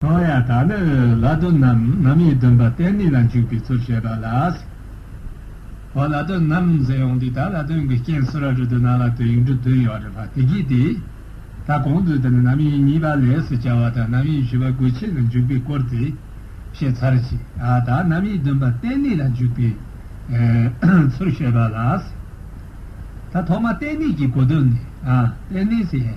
ལྷོ་ཡ་དག་ནི་ལྷ་སྡོ་ནམ་ནམ་ཡི་འདུན་པ་གཏན་ནི་ལ་འཇུག་པའི་ཚུལ་བཤད་པ་ལ། ཧོ་ལྷ་སྡོ་ནམ་ཟེར་ཡོང་དུས་ད་ལ་དོན་གྱི་རྐྱེན་སུ་ར་གྲུ་དུ་ན་ལ་དོན་ཡིག་འབྲུ་བདུན་ཡོད་རེད་པ་དེ་གྱིས་ཏེ། ད་གོང་དུ་དེ་ནི་ནམ་ཡིན་གཉིས་པ་ལས་སུ་བྱ་བ་དང་ནམ་ཡིན་བཞི་པ་དགོས་ཆེད་ལ་འཇུག་པའི་སྐོར་དེ་བཤད་ཚར་གྱི་ཨ་ད་ནམ་ཡི་འདུན་པ་གཏན་ནི་ལ་འཇུག་པའི་ཚུལ་བཤད་པ་ལ། ད་ཐོག་མ་གཏན་ནི་གྱི་གོ་དོན་ནི་ཨ་གཏན་ནི་སའི།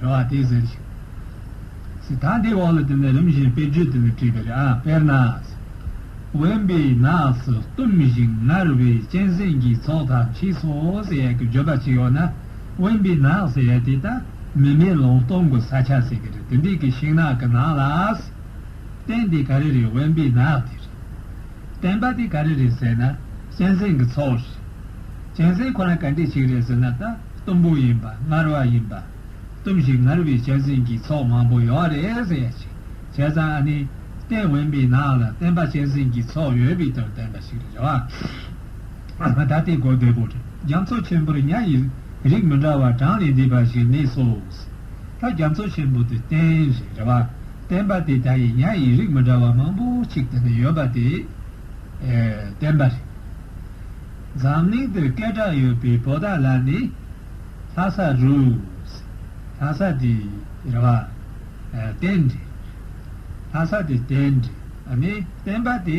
རེ་བ་དེ་ཟེར་ཞིང། སི་ཐན་དེའི་འོག་ལ་དེ་ནི་རིམ་བཞིན་དཔེ་བརྗོད་དེ་ལས་བྲིས་པ་རེད་ཨ། དཔེར་ན། དབེན་པའི་ནགས་སུ་གཏུམ་བཞིན་ངར་བའི་གཅན་གཟན་གྱི་ཚོགས་དག་མཆིས་སོ་ཟེར་ཡ་གི་བརྗོད་པ་ཅིག་ཡོད་ན། དབེན་པའི་ནགས་ཟེར་ཡ་དེ་ད་མི་མེ་ལོང་སྟོང་གི་ས་ཆ་ཟེར་གི་རེད་དེ་འདྲའི་གི་ཤིང་ནགས་ཀི་ནང་ལ། གཏན་དེ་ག་རེ་རེད་དབེན་པའི་ནགས་དེ་རེད། བསྟན་པ་དེ་ག་རེ་རེད་ཟེར་ན་གཅན་གཟན་གྱི་ཚོགས་རེད། གཅན་གཟན་ཁོ་ན་ག་འདྲས་ཞིག་རེད་ཟེར་ན་ད་གཏུམ་པོ་ཡིན་པ་ངར་བ་ཡིན་པ། གཏུམ་ཞིང་ངར་བའི་གཅན་གཟན་གྱི་ཚོགས་མང་པོ་ཡོད་རེད་ཟེར་ཡ་ཅིག་བྱས་ཙང་ཨ་ནི། བསྟན་དབེན་པའི་ནང་ལ་བསྟན་པ་གཅན་གཟན་གྱི་ཚོགས་ཡོད་པའི་དོན་བསྟན་པ་ཞིག་རེད་བ། ད་དེ་གོ་བདེ་པོ་རེད་རྒྱ་མཚོ་ཆེན་པོར་གཉའ་ཡི་རིགས་མི་འདྲ་བ་གྲངས་ལས་འདས་པ་ཞིག་གནས་སོ། ད་རྒྱ་མཚོ་ཆེན་པོ་དེ་བསྟན་ཞེས་རེ་བ་བསྟན་པ་དེ་དག་ཡིན་ཡང་ཡིན་རིགས་མི་འདྲ་བ་མང་པོ་ཞིག་དེ་ནས་ཡོད་པ་དེ་བསྟན་པ་རེད། འཛམ་གླིང་འདིར་སྐད་གྲགས་ཡོད་པའི་བོ་ད་ལ་ནི་ལྷ་ས་རུས། ལྷ་ས་དེ་རེ་བ་བསྟན་རེད། ལྷ་ས་དེ་བསྟན་རེད་ཨ་ནི་བསྟན་པ་དེ།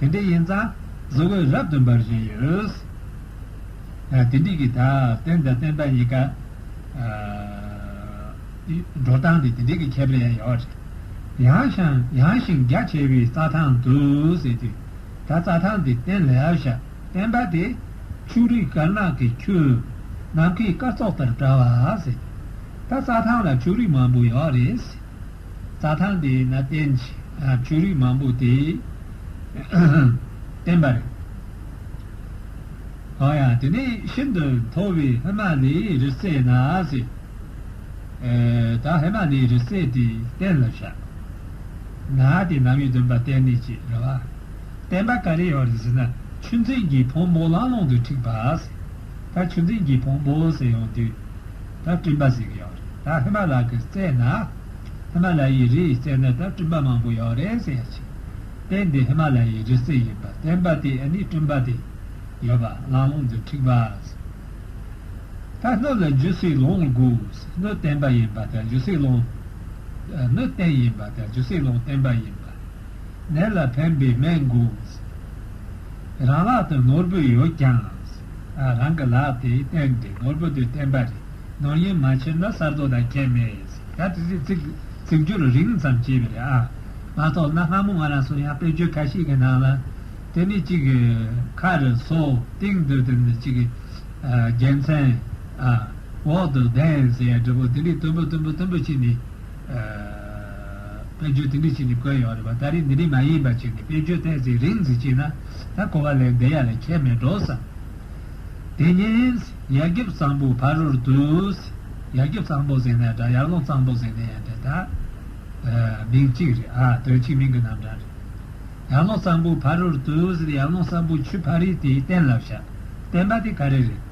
དེ་འདྲའི་ཡིན་ཙང་གཟི་འོད་རབ་ཏུ་འབར་བཞིན་ཡོད། དེ་འགྲིག་གི་ད་བསྟན་དང་བསྟན་པ་གཉིས་ཀ་འགྲོ་སྟངས་དེ་དེ་འགྲིག་གི་ཁྱད་པར་ཡང་ཡོད་རེད། ཡང་ཞིང་ཡང་ཞིང་རྒྱ་ཆེ་བའི་རྩྭ་ཐང་དུ་ཟེར་དུས་ད་རྩྭ་ཐང་དེ་བསྟན་ལེ་ཨའོ་ཞབས་བསྟན་པ་དེ་ཆུ་རིགས་དཀར་ནག་གི་ཁྱུ་ནམ་མཁའི་སྐར་ཚོགས་ལྟར་བཀྲ་བ་ཟེར་དུས་ད་རྩྭ་ཐང་ལ་ཆུ་རིགས་མང་པོ་ཡོད་རེད། རྩྭ་ཐང་དེ་ན་བསྟན། བྱུ་རུས་མང་པོ་དེས་བསྟན། པར་གང་ཡང་དེ་ནས་ཤིན་ཏུ་མཐོ་བའི་ཧི་མ་ལའི་རི་རྩེ་ན་གཟིགས། ད་ཧི་མ་ལའི་རི་རྩེ་དེ་བསྟན་ལ་བཞག། ན་དེ་ནམ་ཡོད་འདུན་པ་བསྟན་ནི་ཅི་རེ་བ། བསྟན་པ་ག་རེ་ཡོད་རེ་ཟིན་ན་ཆུ་འཛིན་གྱི་ཕོ་མོ་ལང་ལོང་དུ་འཁྲིགས་པ། ད་ཆུ་འཛིན་གྱི་བོང་བུ་ཟེར་ཡོང་དུས་ད་སྤྲིན་པ་ཟེར་གི་ཡོད་རེད་ད་ཧི་མ་ལ་ཀི་བཙལ་ན་ཧི་མ་ལ་ཡའི་རི་བཙལ་ན་ད་སྤྲིན་པ་མང་པོ་ཡོད་རེད་ཟེར་ཡ་ཆེ་དེ་འདི་ཧི་མ་ལ་ཡའི་རི་རྩེ་ཡིན་པ་བསྟན་པ་དེ་ཨ་ནི་སྤྲིན་པ་དེ་ཡོད་པ་གླང་ལོང་འདི་འཁྲིག་པ་ཟེར་ད་སྣོད་ལ་འཇུ་སྲིད་ལོང་དགོས་སྣོད་བསྟན་པ་ཡིན་པ་ད་འཇུ་སྲིད་ལོང་སྣོད་བསྟན་ཡིན་པ་ད་འཇུ་སྲིད་ལོང་བསྟན་པ་ཡིན་པ་ནད་ལ་ཕན་པའི་སྨན་དགོས་རང་ལག་དེ་ནོར་བུ་ཡོད་ཀྱང། རང་གི་ལག་དེ་བསྟན་ཏེ་ནོར་བུ་དེ་བསྟན་པ་རེད། ནོར་ཡིན་མ་བྱས་ན་གསར་རྡོ་དང་ཁྱད་མེད། ད་དེ་རིགས་ཚིག་སྦྱོར་རིང་ཙམ་བྱས་པས་རེད་ཨ། མ་རྟོགས་ན་སྔ་མོ་ང་རང་སུ་ཡང་དཔེར་བརྗོད་ག་ཤེད་ཀྱི་ནང་ལ། དེ་ནི་གཅིག་གི་ཁ་རེ་སོ་སྟེང་དུ་དེ་ནི་གཅིག་གི་རྒྱལ་མཚན། འོག་ཏུ་གདན་ཟེར་ཡ་འདྲ་པོ་དེ་འདྲའི་དོན་པོ་དོན་པོ་དོན་པོ་གཅིག་ནི། དཔེར་བརྗོད་དེ་འདྲའི་ཆེད་ནས་བཀོད་ཡོད་རེད་བ་ད་རེས་འདི་འདྲའི་མ་ཡིན་པ་ཅིག་ནས་དཔེར་བརྗོད་ཐད་ཚིག་རིང་ཟིག་བྱས་ན་ད་གོ་བ་ལས་འདི་ཡ་ལས་ཁྱད་མེད་འགྲོ་བསམ། དེ་ཉིན། ཡར་རྒྱབ་གཙང་པོ་ཕ་རོལ་དུ། ཡར་རྒྱབ་གཙང་པོ་ཟེར་ནའི་འདྲ་ཡར་ཀླུང་གཙང་པོ་ཟེར་ནའི་ཡང་འདྲ་ད། མིང་གཅིག་རེད་ཨ་དོན་གཅིག་མིང་གི་རྣམ་གྲངས་རེད། ཡར་ཀླུང་གཙང་པོ་ཕ་རོལ་དུ་ཟེར་ཡར་ཀླུང་གཙང་པོ་ཆུ་ཕ་རིའི་དེ་གཏན་ལ་བཞག་བསྟན་པ་དེ་ག་རེ་རེད།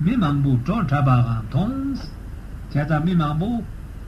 མི་མང་པོ་བྲོ་འཁྲབ་པའང་མཐོང། བྱས་ཙང་མི་མང་པོ།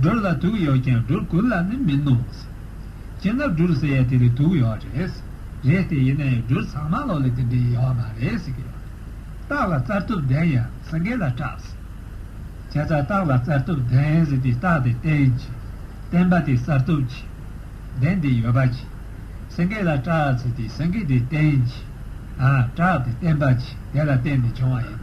སྦྲུལ་ལ་དུག་ཡོད་ཀྱང་སྦྲུལ་ཀུན་ལ་ནི་མིན་ནོ། སྤྱིར་ན་སྦྲུལ་ཟེར་ཡ་དེ་ལས་དུག་ཡོད་རེད། རེད་སྟེ་ཡིན་ན་ཡང་སྦྲུལ་ཚང་མ་ལོག་ལས་དེ་འདྲའི་ཡོད་མ་རེད་ཟེར་གྱི་ཡོད། སྟག་ལ་རྩར་གཏུབ་ལྡན་ཡང་སེང་གེ་ལ་སྐྲག། བྱས་ཙང་སྟག་ལ་རྩར་གཏུབ་ལྡན་ཟེར་དུས་སྟག་དེ་བསྟན་གྱི། བསྟན་པ་དེ་གསར་གཏུབ་ཀྱི། ལྡན་དེ་ཡོད་པ་གྱི། སེང་གེ་ལ་སྐྲག་ཟེར་དུས་སེང་གེ་དེ་བསྟན་གྱི། སྐྲག་དེ་བསྟན་པ་གྱི་དེ་ལ་བརྟེན་ནས་བྱུང་བ་ཡིན།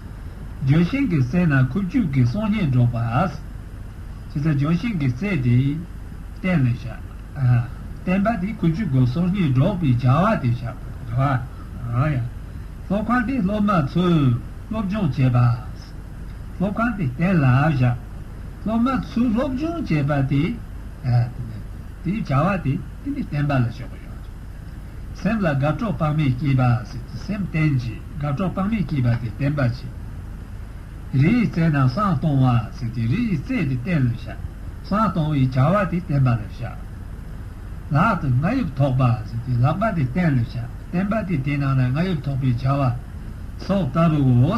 ལྗོན་ཤིང་གི་རྩེ་ན་ཁུ་བྱུག་གི་སོ་སྙེ་སྒྲོག་པ། ཅི་སྟེ་ལྗོན་ཤིང་གི་རྩེ་དེ་བསྟན་ལས་བྱ། བསྟན་པ་དེ་ཁུ་བྱུག་གི་སོ་སྙེ་སྒྲོག་པའི་བྱ་བ་དེ་བྱ། སློབ་ཁང་དེ་སློབ་མ་ཚོས་སློབ་སྦྱོང་བྱེད་པ། སློབ་ཁང་དེ་བསྟན་ལ་བྱ། སློབ་མ་ཚོས་སློབ་སྦྱོང་བྱེད་པ་དེ། དེའི་བྱ་བ་དེ་དེ་ནས་བསྟན་པ་ལ་ཞོག་གོ་ཞོག་ཅིག། སེམས་ལ་དགའ་གྲོགས་དཔག་མེད་སྐྱེས་པ་ཟེར་གྱི་སེམས་བསྟན་རྗེས་དགའ་གྲོགས་དཔག་མེད་སྐྱེས་པ་དེ་བསྟན་པར་བྱེད། རི་ཡི་རྩེ་ན་སྲང་སྟོང་བ་ཟེར་གྱི་རི་ཡི་རྩེ་དེ་བསྟན་ལ་བཞག་སྲང་སྟོང་བའི་བྱ་བ་དེ་བསྟན་པ་ལ་བཞག། ལག་ཏུ་རྔ་ཡུབ་ཐོགས་པ་ཟེར་གྱི་ལག་པ་དེ་བསྟན་ལ་བཞག་བསྟན་པ་དེ་དེ་ནང་ན་རྔ་ཡུབ་ཐོགས་པའི་བྱ་བ་སོགས་ལྟ་བུའོ།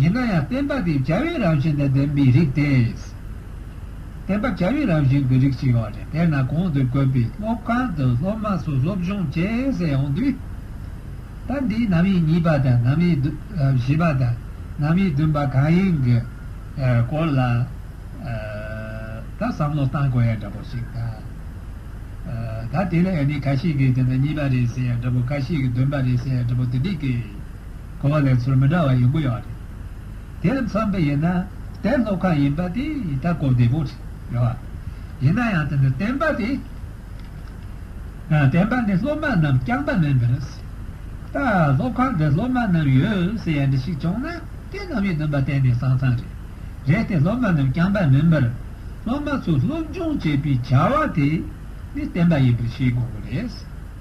ཡིན་ན་ཡང་བསྟན་པ་དེ་བྱ་བའི་རང་བཞིན་དང་ལྡན་པའི་རིགས་ཏེ། བསྟན་པ་བྱ་བའི་རང་བཞིན་གྱི་རིགས་ཤིག་ཡོད་རེད་དེས་ན་གོང་དུ་བཀོད་པའི་སློབ་ཁང་དུ་སློབ་མ་ཚོ་སློབ་སྦྱོང་བྱེད་ཟེར་ཡོང་དུས། ད་འདི་ནམ་ཡིན་གཉིས་པ་དང་ནམ་ཡིན་བཞི་པ་དང་ནམ་ཡིན་བདུན་པ་གང་ཡིན་གྱི་སྐོར་ལ་ད་བསམ་བློ་བཏང་དགོས་ཡ་འདྲ་པོ་ཞིག་འདུག་ད་དེ་ལ་ཡང་ནི་ག་ཤེད་ཀྱིས་དེ་ན་གཉིས་པ་རེད་ཟེར་ཡ་འདྲ་པོ་ག་ཤེད་ཀྱིས་བདུན་པ་རེད་ཟེར་ཡ་འདྲ་པོ་དེ་འགྲིག་གི། གོ་བ་ལེན་ཚུལ་མི་འདྲ་བ་ཡོད་དགོས་ཡོད་རེད། དེར་མཚོན་པའི་ཡིན་ན་དེ་སློབ་ཁག་ཡིན་པ་དེ་ཡི་ད་གོ་བདེ་པོ་རེད་བ། ཡིན་ན་ཡང་དེ་འདྲ་བསྟན་པ་དེ། བསྟན་པ་འདི་སློབ་མ་རྣམས་རྐྱང་པ་མིན་པར། ད་སློབ་ཁག་འདིར་སློབ་མ་རྣམས་ཡོད་ཟེར་ཡ་འདྲ་ཞིག་བྱུང་ན་དེ་རྣམས་ཡིན་སྣང་པ་གཏན་ནས་སང་ཙང་རེད། རེད་དེ་སློབ་མ་རྣམས་རྐྱང་པ་མིན་པར། སློབ་མ་ཚོས་སློབ་སྦྱོང་བྱེད་པའི་བྱ་བ་དེ་ནི་བསྟན་པ་ཡིན་པར་ཤེས་དགོས་པ་རེད།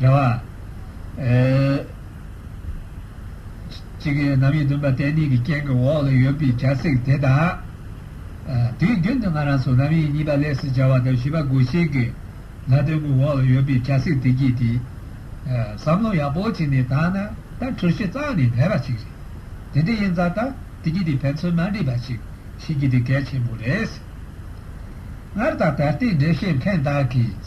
རྒྱལ་བ། གཅིག་གི་རྣམ་དབྱེ་བདུན་པ་བསྟན་གནས་ཀྱི་རྐྱེན་གྱི་འོག་ལ་ཡོད་པའི་བྱ་ཚིག་དེ་དག་དེའི་རྒྱུན་དུ་ང་རང་སོགས་རྣམ་དབྱེ་གཉིས་པ་ལས་སུ་སྦྱར་བ་དང་བཞི་པ་སྒོ་ཤེས་ཀྱི་ལྷ་དོན་གྱི་འོག་ལ་ཡོད་པའི་བྱ་ཚིག་དེ་གྱིས་དེ། བསམ་བློ་ཡག་པོ་བྱས་ནས་དག་ན་ད་གྲོས་གཞི་གཙང་ནས་ལེགས་པ་ཅིག་རེད། དེ་འདྲ་ཡིན་ཙང་ད་དེ་གྱིས་དེ་ཕན་ཚུན་མ་འགྲིག་པ་ཞིག་བྱེད་རྒྱུ་དེ་གལ་ཆེན་པོ་རེད། སྔར་དང་ད་ལྟའི་འགྲེལ་བཤད་མཁན་དག་གིས།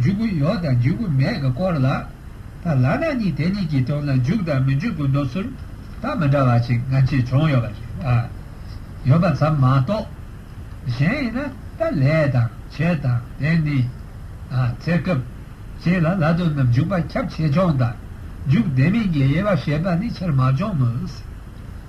འཇུག་གུ་ཡོག་དང་འཇུག་གུ་མེད་ཀྱི་སྐོར་ལ། ད་ལ་ན་ནི་དེ་གཉིས་ཀྱི་དོན་ལ་འཇུག་དང་མི་འཇུག་གི་འདོད་ཚུལ་དང་མི་འདྲ་བ་ཞིག་ང་ཚོས་བྱུང་ཡོད་པ་རེད། ཡོད་པ་ཙམ་མ་གཏོགས། གཞན་ཡིན་ན་ད་ལས་དང་བྱེད་དང་དེ་ནི། ཚེ་སྐབས། ཅེས་ལ་ལ་དོན་རྣམས་འཇུག་པ་ཁྱབ་ཆེ་ཆུང་དང། འཇུག་བདེ་མིན་གྱི་དབྱེ་བ་བཤད་པ་ནི་ཆེར་མ་བྱུང་མོད།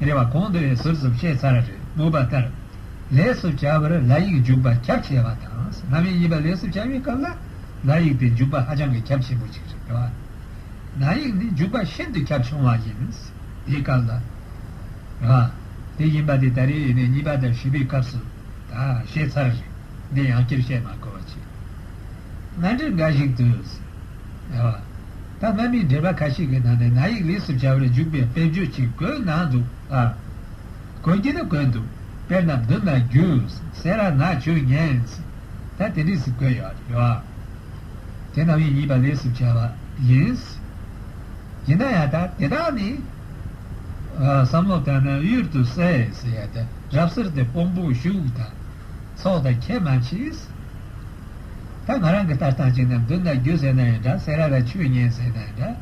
རེ་བ་གོང་དུ་ཟུར་ཟུར་བཤད་ཚར་རེད་སྨོས་པ་ལྟར། ལས་སུ་བྱ་བར་ལ་ཡིག་འཇུག་པ་ཁྱབ་ཆེ་བ་དང་གནའ་མི་གཉིས་པ་ལས་སུ་བྱ་བའི་སྐབས་ལ་ལ་ཡིག་དེ་འཇུག་པ་ཧ་ཅང་གི་ཁྱབ་ཆེན་པོ་ཅིག་རེད། ལ་ཡིག་ནི་འཇུག་པ་ཤིན་ཏུ་ཁྱབ་ཆུང་བ་ཡིན། དེའི་སྐབས་ལ་ལ་དེ་ཡིན་པ་དེ་ད་རེས་ཡིན་ནས་གཉིས་པ་དང་བཞི་པའི་སྐབས་སུ་ད་བཤད་ཚར་རེད་འདི་ཡང་སྤྱིར་བཤད་མ་དགོས་པ་ཅིག་ན་འདྲི་འགའ་ཞིག་དུས་ལ། ད་གནའ་མིའི་འགྲེལ་པ་ཁ་ཤས་ཀྱི་ནང་ནས་ན་ཡིག་ལེགས་སུ་བྱ་བའི་འཇུག་པའི་དཔེ་བརྗོད་ཅིག་བཀོད་གནང་འདུག་ལ། གོ་རྒྱུ་ནི་བཀོད་འདུག་དཔེར་ན་མདུན་ན་རྒྱུ་ཟེར་ར་ནག་ཆོས་ཉན། ད་དེ་འདྲིས་སུ་བཀོད་ཡོད་རེད་བ། དེ་གནའ་མིའི་ཡིན་པ་ལེགས་སུ་བྱ་བ་ཡིན། ཡིན་ན་ཡང་ད་དེ་དག་ནི། བསམ་བློ་བཏང་ན་གཡུར་དུ་གསལ། རབ་གསེར་དེ་སྤོམ་པོ་ཤུགས་དང། ཚོགས་དང་ཁྱད་མ་མཆིས། ད་ང་རང་གི་ལྟར་སྟངས་ཅིག་ན་མདུན་ན་རྒྱུ་ཟེར་ན་ཡང་འདྲ་སེ་ར་ལ་ཆོས་ཉན་ཟེར་ན་ཡང་འདྲ་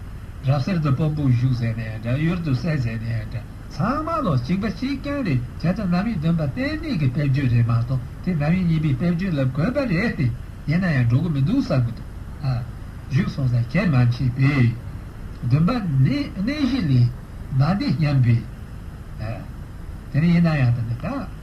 རབ་གསེར་དུ་སྤོ་འབུག་གཞུག་ཟེར་ན་ཡང་འདྲ་གཡུར་དུ་གསལ་ཟེར་ན་ཡང་འདྲ་ཚང་མ་ལོ་གཅིག་པ་གཅིག་རྐྱང་རེད་བྱས་ཙང་ནམ་ཡིན་བདུན་པ་གཏན་མེད་ཀྱི་དཔེར་བརྗོད་རེད་མ་གཏོགས་དེ་ནམ་ཡིན་གཉིས་པའི་དཔེར་བརྗོད་ལ་དགོས་པ་རེད་དེ་ཡིན་ན་ཡང་འགྲོ་གི་མི་འདུག་བསམ་གྱི་འདུག་ཨ། བཞུགས་སོང་ད་ཁྱད་མ་མཆིས་པས། བདུན་པ་ནི་གནས་གཞི་ལས་མ་འདས་སྙམ་པས། ཨ། དེ་ཡིན་ན་ཡང་ད་ནི་ད།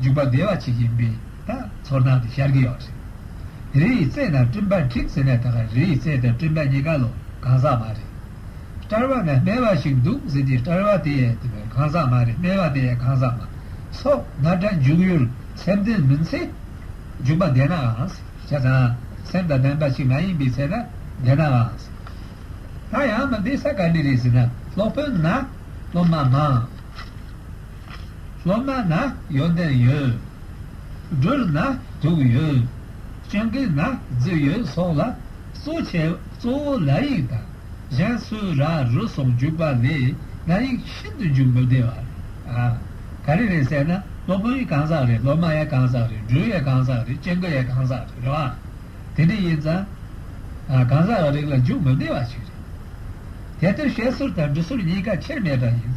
འཇུག་པ་བདེ་བ་བྱེད་ཀྱིན་པའི་དང་ཚོར་སྣང་དེ་ཤར་གྱི་ཡོད་རེད། རི་ཡི་རྩེ་དང་སྤྲིན་པ་འཁྲིགས་ཟེར་ནས་ད་ག་རི་ཡི་རྩེ་དང་སྤྲིན་པ་གཉིས་ཀ་ལོ་གང་ཟག་མ་རེད། སྐྲར་བ་ན་སྨེ་བ་ཞིག་འདུག་ཟེར་གྱི་སྐྲར་བ་དེ་ཡས་གང་ཟག་མ་རེད་སྨེ་བ་དེ་ཡས་གང་ཟག་མ། སོགས་ན་སྒྲ་འཇུག་ཡུལ་སེམས་དོན་མིན་ཚེ། འཇུག་པ་བདེ་ནའང་བྱས་ཙང་སེམས་དང་ལྡན་པ་ཞིག་མ་ཡིན་པའི་ཚེ་ན་བདེ་ནའང། ད་ཡང་མི་བདེ་ས་ག་ལི་རེད་ཟེར་ན་སློབ་དཔོན་ན་སློབ་མ་མང། སློབ་མ་ན་ཡོད་འདེབས་ཡོད། སྦྲུལ་ན་དུག་ཡོད། སྤྱང་ཀི་ན་རྫི་ཡོད་སོགས་ལ་གཙོ་བྱས་གཙོ་བོ་ལ་ཡིག་དང་གཞན་སུ་ར་རུ་སོགས་འཇུག་པ་ལས་ན་ཡིག་ཤིན་ཏུ་འཇུག་མི་བདེ་བ་རེད། ག་རེ་རེད་ཟེར་ན་སློབ་དཔོན་ཡི་གང་ཟག་རེད་སློབ་མ་ཡ་གང་ཟག་རེད་སྦྲུལ་ཡ་གང་ཟག་རེད་སྤྱང་ཀི་ཡ་གང་ཟག་རེད་རེད་བ། དེ་འདྲ་ཡིན་ཙང་གང་ཟག་རིགས་ལ་འཇུག་མི་བདེ་བ་ཞིག་རེད། དེ་ལྟར་བཤད་སྲོལ་དང་འབྲི་སྲོལ་གཉིས་ཀ་ཆེར་མེད་པ་ཡིན།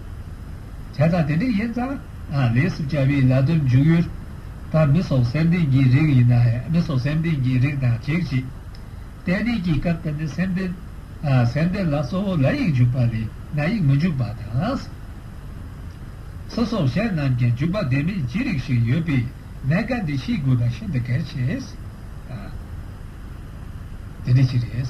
བྱས་ཙང་དེ་འདྲ་ཡིན་ཙང་རེད་སེམས་བྱ་བའི་ལ་དོན་འཇུག་ཡུལ་ད་མི་སོགས་སེམས་ལྡན་གྱི་རིགས་ཡིན་ན་མི་སོགས་སེམས་ལྡན་གྱི་རིགས་དང་གཅིག་གཅིག་གཏན་གཏན་གྱི་སྐབས་དེ་ནི་སེམས་ལྡན་སེམས་ལྡན་ལ་གཙོ་བོ་ལ་ཡིག་འཇུག་པ་ལས་ན་ཡིག་མི་འཇུག་པ་དང། སོ་སོ་གཞན་རྣམས་ཀྱང་འཇུག་པ་བདེན་མེད་ཅི་རིགས་ཤིག་ཡོད་པས་ན་བཀའ་འདི་ཤེས་དགོས་པ་ཤིན་ཏུ་གལ་ཆེ། དེ་འདི་ཅི་རེད།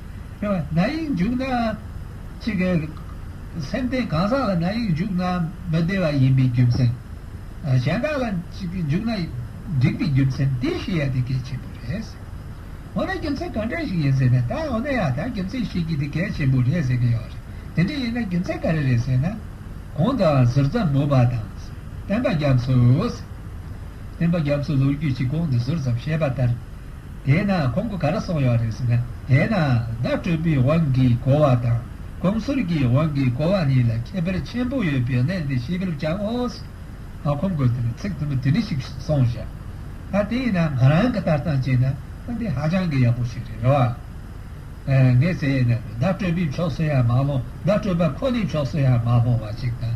ན་ཡིག་འཇུག་ན། ཅི་སྐད། སེམས་རྟེན་གང་ཟག་ལ་ན་ཡིག་འཇུག་ན་མི་བདེ་བ་ཡིན་པའི་རྒྱུ་མཚན། གཞན་དག་ལ་འཇུག་ན་འགྲིག་པའི་རྒྱུ་མཚན་དེ་བཤད་ཡ་དེ་གལ་ཆེན་པོ་རེད། འོ་ན་རྒྱུ་མཚན་གང་འདྲ་ཞིག་ཡིན་ཟེར་ན་ད་འོ་ན་ཡ་ད་རྒྱུ་མཚན་བཤད་རྒྱུ་དེ་གལ་ཆེན་པོ་རེད་ཟེར་གྱི་ཡོད་རེད། དེ་འདྲ་ཡིན་ན་རྒྱུ་མཚན་ག་རེ་རེད་ཟེར་ན། གོང་དུའང་ཟུར་ཙམ་མོ་པ་དང། བསྟན་པ་རྒྱ་མཚོས། བསྟན་པ་རྒྱ་མཚོས་ལོ་རྒྱུས་ཀྱི་གོང་དུ་ཟུར་ཙམ་བཤད་པ་ལྟར། དེས་ན་ཁོང་གི་ག་རེ་གསུངས་ཡོད་རེད་ཟེར་ན། དེས་ན་བརྡ་སྤྲོད་པའི་དབང་གིས་གོ་བ་དང་གོམས་སྲོལ་གྱི་དབང་གིས་གོ་བ་གཉིས་ལ་ཁྱད་པར་ཆེན་པོ་ཡོད་པའི་གནད་འདི་ཤེས་ཕེབས་ཀྱང་ཨོ། ཨ་ཁོང་གིས་དེར་ཚིག་དུ་མ་དེ་འདྲ་ཞིག་གསུངས་ཞེས། ཨ་དེས་ན་ང་རང་གི་ལྟ་སྟངས་བྱས་ན་ཨ་འདི་ཧ་ཅང་གི་ཡག་པོ་ཞིག་རེད་རེད་བ། ངས་ཟེར་ཡས་ན་བརྡ་སྤྲོད་པའི་ཕྱོགས་སུ་ཡང་མ་ལྷུང་བརྡ་སྤྲོད་པ་ཁོ་ནའི་ཕྱོགས་སུ་ཡང་མ་ལྷུང་བ་ཞིག་དང།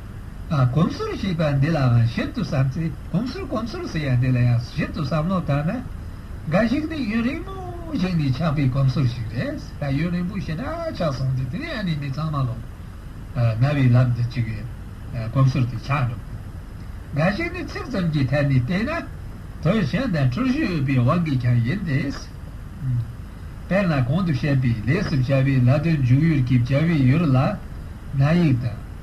གོམས་སུར་ཞེས་པ་འདི་ལའང་ཞིབ་ཏུ་བསམ་ཚེ་གོམས་སུར་གོམས་སུར་ཟེར་ཡ་འདི་ལ་ཡང་ཞིབ་ཏུ་བསམ་བློ་བཏང་ན། འགའ་ཞིག་ནི་ཡུན་རིང་མོ་ཞིག་ནས་ཆགས་པའི་གོམས་སུར་ཞིག་རེད། ད་ཡུན་རིང་པོ་ཞེ་དྲག་ཆགས་སོང་སྟེ་དེ་ནས་ཨ་ནེ་མི་ཚང་མ་ལོག་ན་བའི་ལམ་དུ་བཅུག་ཡས་གོམས་སུར་དེ་ཆགས་འགྲོ་གི་རེད། འགའ་ཞིག་ནི་ཚིག་ཙམ་གྱི་ཐད་ནས་བལྟས་ན། དོན་གཞན་དང་འཁྲུལ་གཞི་ཡོད་པའི་དབང་གིས་ཀྱང་ཡིན་ཏེ། དཔེར་ན་གོང་དུ་བཤད་པའི་ལས་སུ་བྱ་བའི་ལ་དོན་འཇུག་ཡུལ་གྱི་བྱ་བའི་ཡུལ་ལ་ན་ཡིག་དང།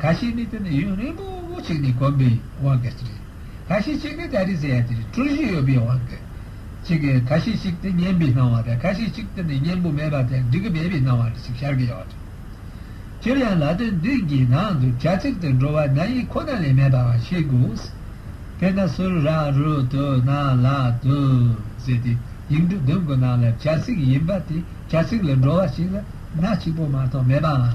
ག་ཤེད་ནི་དེ་ནི་ཡུན་རིང་པོ་ཞིག་ནས་གོམས་པའི་དབང་གིས་རེད། ག་ཤེད་ཅིག་ནི་ད་རེས་ཟེར་ཡ་དེ་རེད་འཁྲུལ་གཞི་ཡོད་པའི་དབང་གིས་ཅིག་ག་ཤེད་ཅིག་དེ་གཉེན་པོའི་སྣང་བ་རེད་ག་ཤེད་ཅིག་དེ་ནི་གཉེན་པོ་མེད་པ་དེ་འགྲིག་གི་མེད་པའི་སྣང་བ་རེད་ཅེས་ཤར་གྱི་ཡོད། སྤྱིར་ཡང་ལ་དོན་འདི་འགའི་ནང་དུ་བྱ་ཚིག་དེ་འགྲོ་བ་ན་ཡིག་ཁོ་ན་ལས་མེད་པའང་ཤེས་དགོས། དཔེར་ན་སུ་ར་རུ་དུ་ན་ལ་དུ་ཟེར་དེ་ཡིག་འབྲུ་བདུན་གྱི་ནང་ལ་བྱ་ཚིག་ཡིན་པ་དེ་བྱ་ཚིག་ལས་འགྲོ་བ་ཞིག་ལ་སྣ་གཅིག་པོ་མ་གཏོགས་མེད་པའང།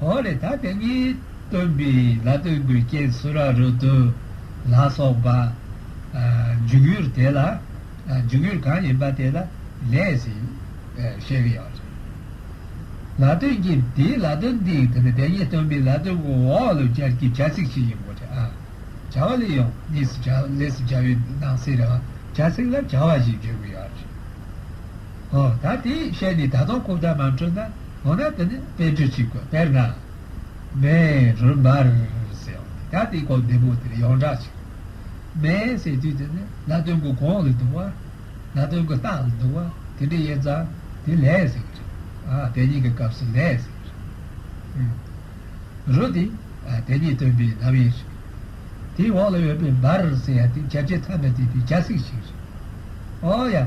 ཧོ་ལེ་ད་དེ་གཉིས་སྟོན་པའི་ལ་སྟོན་དགུའི་རྐྱེན་སུ་ར་རུ་ཏུ་ལ་སོགས་པ། འཇུག་ཡུལ་དེ་ལ་འཇུག་ཡུལ་གང་ཡིན་པ་དེ་ལ་ལས་ཞེས་བཤད་ཀྱི་ཡོད་རེད། ལ་སྟོན་གྱི་དེའི་ལ་སྟོན་འདི་དེ་ནི་དེ་གཉིས་སྟོན་པའི་ལ་སྟོན་དགུ་འོག་ལོ་བརྒྱད་ཀྱི་བྱ་ཚིག་ཅིག་ཡིན་དགོས་རེད་ཨ། བྱ་བ་ལས་ཡོང་གཉིས་སུ་བྱ་ལས་སུ་བྱ་བའི་ནང་གསེས་རེ་བ་བྱ་ཚིག་ལ་བྱ་བ་ཞེས་བརྗོད་ཀྱི་ཡོད་རེད། ཨོ་ད་དེའི་ཤེས་ནི་ད་དུང་ཁུག་རྟ་མ་འཕྲོད་ན་འོ་ན་དེ་ནི་དཔེ་འཕྲོད་ཅིག་གོ་དཔེར་ན། མེ་རུལ་འབར་ཟེར་བ་ནི་ད་དེའི་གོ་བདེ་པོ་དེར་ཡོངས་གྲགས་ཅིག་གོ། མེ་ཟེར་དུས་དེ་ནི་ལ་སྟོན་གྱི་གོང་ལ་འདུག་བ། ལ་སྟོན་གྱི་ལྟག་ལ་འདུག་བ་དེ་འདྲའི་དབྱེ་ཙམ་དེ་ལས་ཟེར་གྱི་རེད། ཨ་དེ་གཉིས་ཀྱི་སྐབས་སུ་ལས་ཟེར་གྱི་རེད། རུལ་དེ་དེ་གཉིས་སྟོན་པའི་ལམ་དབྱེ་ཞིག་རེད། དེའི་འོག་ལ་ཡོད་པའི་འབར་ཟེར་བ་དེ་རྒྱབ་ཆད་ཐམས་པ་དེ་དེའི་རྒྱ་ཚིག་ཞིག་རེད། ཨོ་ཡ།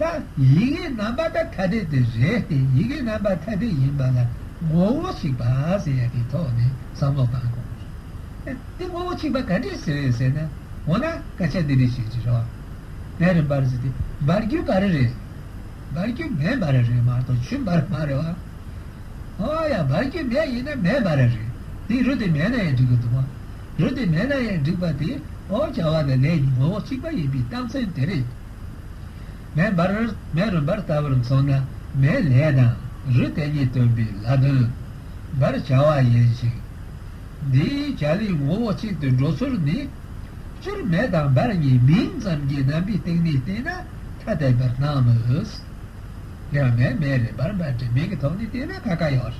ད། ཡི་གེའི་རྣམ་པ་ཐ་དད་དེ་རེད་དེ་ཡི་གེའི་རྣམ་པ་ཐ་དད་ཡིན་པ་ལ་ངོ་བོ་གཅིག་པ་ཟེར་ཡ་དེའི་ཐོག་ནས་བསམ་བློ་གཏང་དགོས་པ་རེད། དེ་ངོ་བོ་གཅིག་པ་ག་འདྲས་ཟེར་ཡོད་ཟེར་ན། འོ་ན་སྐད་ཆ་འདི་རིགས་བཤད་ཅི་རོགས། དེ་རི་འབར་ཟེར་དེ་འབར་རྒྱུ་ག་རེ་རེད། འབར་རྒྱུ་མེད་འབར་རེད་མ་གཏོགས་ཆུ་འབར་མ་རེད་བ། ཨོ་ཡ་འབར་རྒྱུ་མེད་ཡིན་ན་མེད་འབར་རེད། དེ་རུ་དེ་མེད་ན་ཡང་འགྲིག་གི་འདུག་བ། རུ་དེ་མེད་ན་ཡང་འགྲིག་པ་དེ་ཨོ་བྱ་བ་ནི་ལས་ཀྱི་ངོ་བོ་གཅིག་པ་ཡིན་པའི་རྟགས་མཚན་དེ་རེད། མེ་འབར་མེ་རུ་འབར་ལྟ་བུར་མཚུངས་ན་མེ་ལས་དང་རུ་དེ་གཉིས་སྟོན་པའི་ལྷ་དོན། འབར་བྱ་བ་ཡིན་ཞིང། འདིའི་བྱ་ལས་ངོ་བོ་གཅིག་ཏུ་འགྲོ་ཚུལ་ནི། སྤྱིར་མེ་དང་འབར་གཉིས་མིང་ཙམ་གྱི་རྣམ་པའི་སྟེང་ནས་བལྟས་ན་ཐ་དད་པར་སྣང་མོད། ཡང་མེ་མེ་རེད་འབར་འབར་རེད་མིང་གི་ཐོག་ནས་བལྟས་ན་ཁ་ཁ་ཡོད།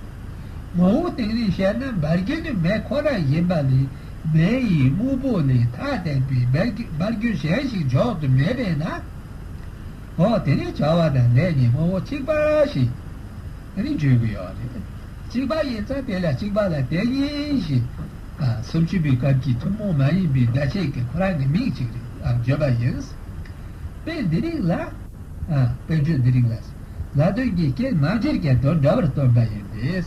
ངོ་བོའི་སྟེང་ནས་བཤད་ན་འབར་རྒྱུ་ནི་མེ་ཁོ་ན་ཡིན་པ་ལས། མེ་ཡི་དབུལ་པོ་ལས་ཐ་དད་པའི་འབར་རྒྱུ་གཞན་ཞིག་འཇོག་ཏུ་མེད་པས་ན། འོ་དེ་ནི་བྱ་བ་དང་ལས་ནི་ངོ་བོ་གཅིག་པ་ཞེས་ནི་བརྗོད་ཀྱི་ཡོད་རེད། གཅིག་པ་ཡིན་ཙང་དེ་ལ་གཅིག་པ་ལ་དེ་ཉིད་ཞེས་སུམ་ཅུ་པའི་སྐབས་ཀྱི་ཐུན་མོང་མ་ཡིན་པའི་བརྡ་ཆད་ཀྱི་ཁོ་རང་གི་མིང་ཅིག་རེད་ལ་བརྗོད་པ་ཡིན། དཔེ་འདི་རིགས་ལ། དཔེ་བརྗོད་འདི་རིགས་ལ། ལ་དོན་གྱི་སྐྱེལ་མ་སྒེར་གྱི་དོན་འདྲ་བར་སྟོན་པ་ཡིན་པས།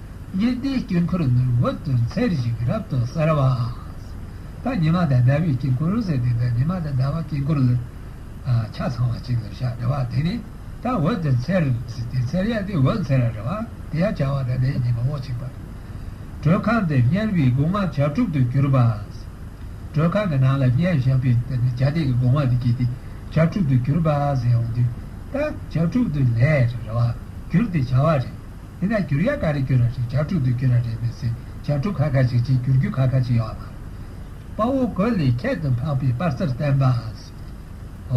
ཉི་ཟླའི་དཀྱིལ་འཁོར་ནི་འོད་དུ་འཚེར་བཞིན་རབ་ཏུ་གསལ་བ། ད་ཉི་མ་དང་ཟླ་བའི་དཀྱིལ་འཁོར་ཟེར་ཏེ་ད་ཉི་མ་དང་ཟླ་བ་དཀྱིལ་འཁོར་ལ་ཆ་ཚང་བ་གཅིག་ལ་ཞག་བདེ་བ་དེ་ནི་ད་འོད་དུ་འཚེར་ཟེར་ཏེ་འཚེར་ཡས་དེ་འོད་འཚེར་རེ་བ་དེ་ཡང་བྱ་བ་དང་ལྡན་གྱི་ངོ་བོ་གཅིག་པ། གྲོལ་ཁང་འདི་བསྙལ་བའི་སྒོ་ང་བྱ་དྲུག་ཏུ་གྱུར་པ། གྲོལ་ཁང་གི་ནང་ལ་བསྙལ་བཞག་པའི་དེ་ནི་བྱ་དེ་ཡི་སྒོ་ང་དུ་སྐྱེས་ཏེ་བྱ་དྲུག་ཏུ་གྱུར་པ་ཟེར་ཡང་འདུས། ད་བྱ་དྲུག་ཏུ་ལས་རེ་བ་གྱུར་ཏེ་བྱ་བ་རེ། དེ་ནས་བསྒྱུར་ཡ་ག་རེ་བསྒྱུར་ར་རེད་རྒྱག་ཕྲུག་དུ་བསྒྱུར་ར་རེད་མི་ཚེ་རྒྱག་ཕྲུག་ཁ་ཁ་ཅིག་ཅིག་བསྒྱུར་རྒྱུ་ཁ་ཁ་ཅིག་ཡོག་ལ། དཔའ་བོ་གོས་ལས་ཁྱད་དུ་འཕགས་པའི་དཔའ་རྩར་བསྟན་པ།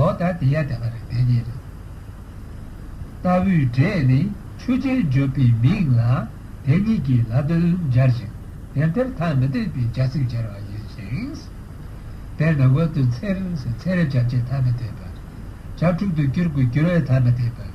ཨོ་ད་དེ་ཡ་དེ་མ་རེད་དེ་གཉིས་རེད། ལྟ་བུའི་སྒྲས་ནི་ཆོས་ཅན་བརྗོད་པའི་མིང་ལ་དེ་གཉིས་ཀྱིས་ལ་དོན་སྦྱར་ཞིང་དེ་ལྟར་ཐ་མི་དད་པའི་རྒྱ་ཚིག་སྦྱར་བ་ཡིན་ཞིང། དེར་ནི་འོད་དུ་འཚེར་འཚེར་བྱ་བྱེད་ཐ་མི་དད་པར། བྱ་ཕྲུག་ཏུ་བསྒྱུར་དགོས་བསྒྱུར་བས་ཐ་མི་དད་པར།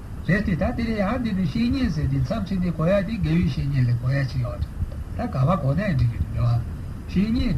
རེད་དེ། ད་དེ་ལས་ཡང་འདས་པའི་བཤེས་གཉེན་ཟེར་དུས་མཚམས་ཆད་དེ་གོ་ཡ་དེ་རྒས་ཡོལ་བཤེས་གཉེན་ལས་གོ་ཡ་ཅི་ཡོད། ད་ག་བ་གོ་ན་ཡང་འགྲིག་གི་འདུག་ཉོ་བ། བཤེས་གཉེན།